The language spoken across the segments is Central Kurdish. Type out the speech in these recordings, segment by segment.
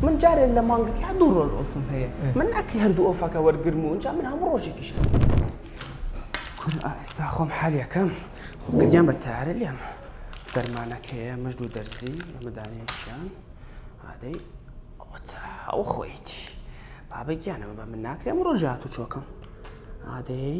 من جارێ لە مانگەکە یا دوو ڕۆژ ئۆفم هەیە من ناکری هەردوو ئۆفەکە وەرگرم و ئەنجا من هەموو ڕۆژێکیش کورە ئێستا خۆم حالیەکەم خۆ گریان بە تارە لێم دەرمانەکەیە مژ و دەرزی ئەمەدانێکیان ئادەی ئەو خۆیتی بابە گیانەوە بە من ناکرێم ڕۆژات و چۆکم ئادەی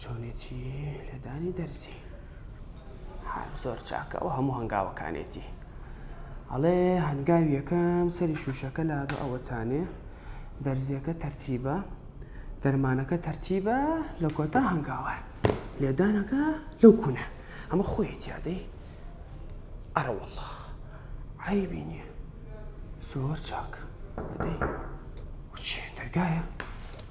چۆنێتی لێدانی دەرزی زۆر چاکە ئەو هەموو هەنگاوەکانێتی ئەڵێ هەنگاویەکەم سەری شوشەکە لا بە ئەوەتانێ دەرزیەکە تەرتیبە دەرمانەکە تەرتیبە لە کۆتا هەنگاوە لێدانەکە لەو کوونە ئەمە خۆیەتی یادەی ئەرەوەڵە عیبی نییە زۆر چاک دەرگایە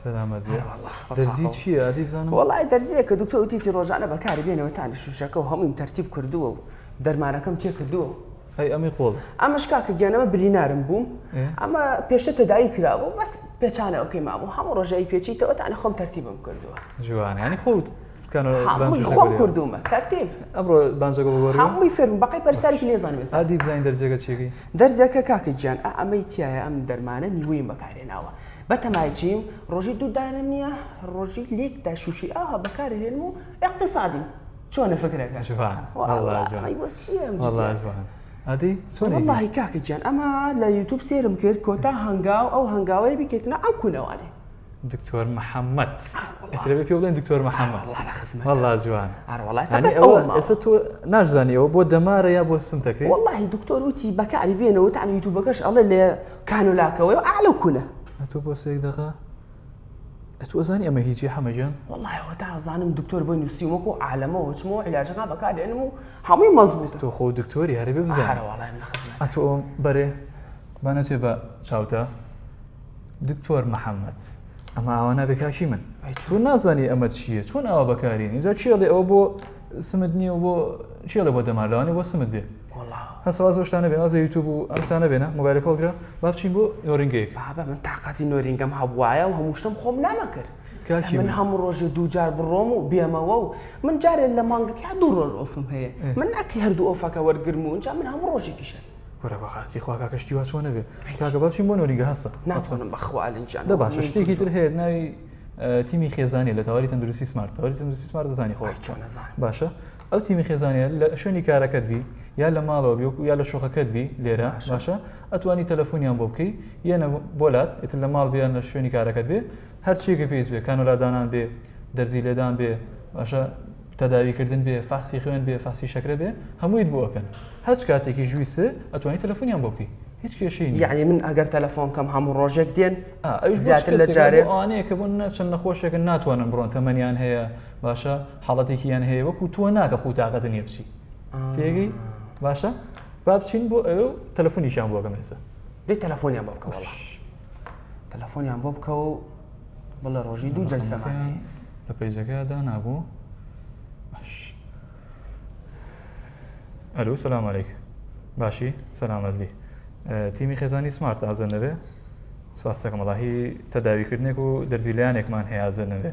سەلامەت بێ دەرزی چیە ئەدی بزانم؟ وەڵای دەرزیە کە دکتۆ وتیتی ڕۆژانە بەکاری بێنەوە تانە شوشەکە و هەموویم تەرتیب کردووە و دەرمانەکەم تێ کردووە ئەی ئەمەی قۆڵ ئەمەش کاکە گیانەوە برینارم بووم ئەمە پێشتە تەداوی کراوە و بەس پێچانەوەکەی مابوو هەموو ڕۆژایی پێچیتەوە تانە خۆم تەرتیبم کردووە جوانە ینی خۆت خۆم کردومە تەرتیب ئەمڕۆ بانجەکە بگۆڕ هەمووی فێرم بەقەی پەرساری لێزانم ئەدی بزانین دەرجەکە چێگەی دەرجەکە کاکە گیان ئەمەی تایە ئەم دەرمانە نیوەی بەکارێناوە بە تەمای چیم ڕۆژی دوو دانە نییە ڕۆژی لێک دا شووشی ئاها بەکاری هێنم و اقتصادی چۆنە فکرەکە ئەدی چۆنڵی کاکە گیان ئەمە لە یوتوب سێرم کرد کۆتا هەنگاو ئەو هەنگاوەیە بکەیتنە ئەو کونەوانێ دکتۆر محەممەد ئەترەبێ پێ بڵێن دکتۆر محەممەد هەڵا جوان ئێستا تۆ ناشزانانی ئەوە بۆ دەمارە یا بۆ سمتەکەی وڵی دکتۆر وتی بەکاری بێنەوە تانی یوتوبەکەش ئەڵێ لێ کانو لاکە وە ئەعلە و کولە ئەتو بۆ سێک دەقە ئەتو ئەزانی ئەمە هیچی حەمە گیان وەڵای وە تا ئەزانم دکتۆر بۆی نووسی وەکو عالەمە وچمەوە علاجەکە بەکارێنم و هەمووی مەزبوط تۆ خۆ دکتۆری هەرێ بێ بزارە وەڵای من خزمە ئەتو ئەوم بەرێ بانەچێ بە چاوتە دکتۆر محەممەد ئەمە ئاوا نابێ کاکی من تۆ نازانی ئەمە چییە چۆن ئاوا بەکارین اینجا چێڵێ ئەوە بۆ سمت نییە بۆ چێڵە بۆ دەمالوانێ بۆ سمت بێ وەڵا. هەست واز بەو شتانە بێنە واز لە یوتوب و ئەم شتانە بێنە مۆبایلەکە هەڵگرە با بچین بۆ نۆرینگەیەک. بابە من تاقەتی نۆرینگەم هەبوایە و هەموو شتم خۆم نامە کرد. کاکی من من. هەموو ڕۆژێ دوو جار بڕۆم و بێمەوە و من جارێ لە مانگەک یا دوو ڕۆژ ئۆفم هەیە ئێ. من ناکری هەردوو ئۆفەکە وەرگرم و ئینجا من هەموو ڕۆژێکی شەر. کورە بەڕاستی خوا کاکە شتی وا چۆنە بێ کاکە با بچین بۆ نۆرینگە هەستە با بچین. ناتوانم بەخوا ئەلەند گیان دە باشە شتێکی تر هەیە ناوی تیمی خێزانیە لە تەواری تەندروستی سمارت تەواری تەندروستی سمارت دەزانی خۆت ئای چۆن نەزانم. باشە ئەو تیمی خێزانیە لە شوێنی کارەکەت بی یا لە ماڵەوە بی وەکو یا لە شوقەکەت بی لێرە باشە ئەتوانی تەلەفۆنیان بۆ بکەی یەنە بۆلات ئیتر لە ماڵ بیان لە شوێنی کارەکەت بێ هەرچیەکە پێیت بێ کانۆلادانان بێ دەرزی لێدان بێ باشە تەداویکردن بێ فاسی خوێن بێ فاسی شەکرە بێ هەموویت بۆ ئەکەن هەچ کاتێکی ژویست ئەتوانی تەلەفۆنیان بۆ بکەی هیچ کێشەی یعنی من ئەگەر تەلەفۆن کەم هەموو ڕۆژێک دێن زیاتر لە جارێ ئەوانەیە کە بۆ نەچەند نەخۆشێکە ناتوانن بڕۆن تەمەنیان هەیە باشە حاڵەتێکی یان هەیە وەکو تۆ ناکە خو تااقەت نیە بچی تێگەی باشە با بچین بۆ ئەو تەلەفۆنیشان بۆ گەم ێستا دی تەلەفۆنیان بۆ بکەوە تەلەفۆنیان بۆ بکە و بڵە ڕۆژی دوو جەلسەمان لە پەیجەکە دانابوو ئەلو سەلامەێک باشی سەلامەتبی تیمی خێزانی سمارت ئازە نەبێ سواسەکەمەڵاهی تەداویکردنێک و دەرزیلیانێکمان هەیە ئازە نەبێ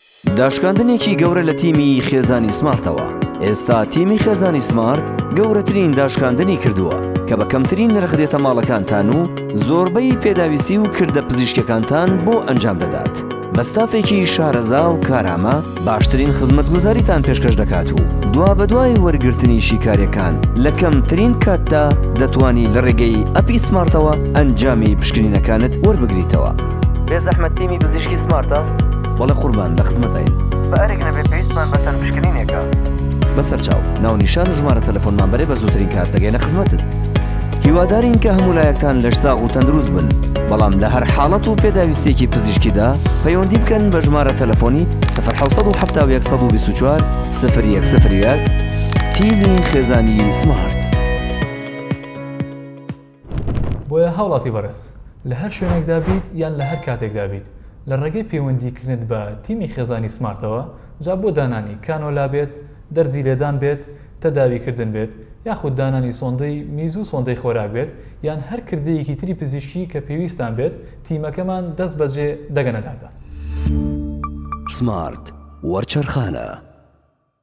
داشکاندنێکی گەورە لە تیمی خێزانی سمارتەوە، ئێستا تیمی خێزانی سمارت گەورەترین داشکاندنی کردووە کە بە کەمترین نرخ دێتە ماڵەکانتان و زۆربەی پێداویستی و کردە پزیشکیەکانتان بۆ ئەنجام دەدات بە ستافێکی شارەزا و کارامە باشترین خزمەتگوزاریتان پێشکەش دەکات و دوا بەدوای وەرگرتنی شیکارەکان لە کەمترین کاتدا دەتوانی لە ڕێگەی ئەپی سمارتەوە ئەنجامی پشکنینەکانت وەربگریتەوە بێزەحمەت تیمی پزیشکی سمارتە؟ بەڵێ قوربان لە خزمەتاین. بە ئەرک نەبێت پێویستمان بە سەرپشکنینێکە. بە سەرچاو، ناونیشان و ژمارە تەلەفۆنمان بەرێ بە زووترین کات دەگەینە خزمەتت. هیوادارین کە هەموو لایەکتان لەش ساغ و تەندروست بن، بەڵام لە هەر حاڵەت و پێداویستیەکی پزیشکیدا پەیوەندی بکەن بە ژمارە تەلەفۆنی 1970 124 تیمی خێزانی سمارت. بۆیە هاوڵاتی بەڕێز لە هەر شوێنێکدا بیت یان لە هەر کاتێکدا بیت لە ڕێگەی پەیوەندی کردنت بە تیمی خێزانی سمارتەوە جا بۆ دانانی کانۆلا بێت دەرزی لێدان بێت تەداوی کردن بێت یاخود دانانی سۆندەی میزو سۆندەی خۆراک بێت یان هەر کردەیەکی تری پزیشکی کە پێویستتان بێت تیمەکەمان دەست بەجێ دەگەنە داتا. سمارت وەرچەرخانە.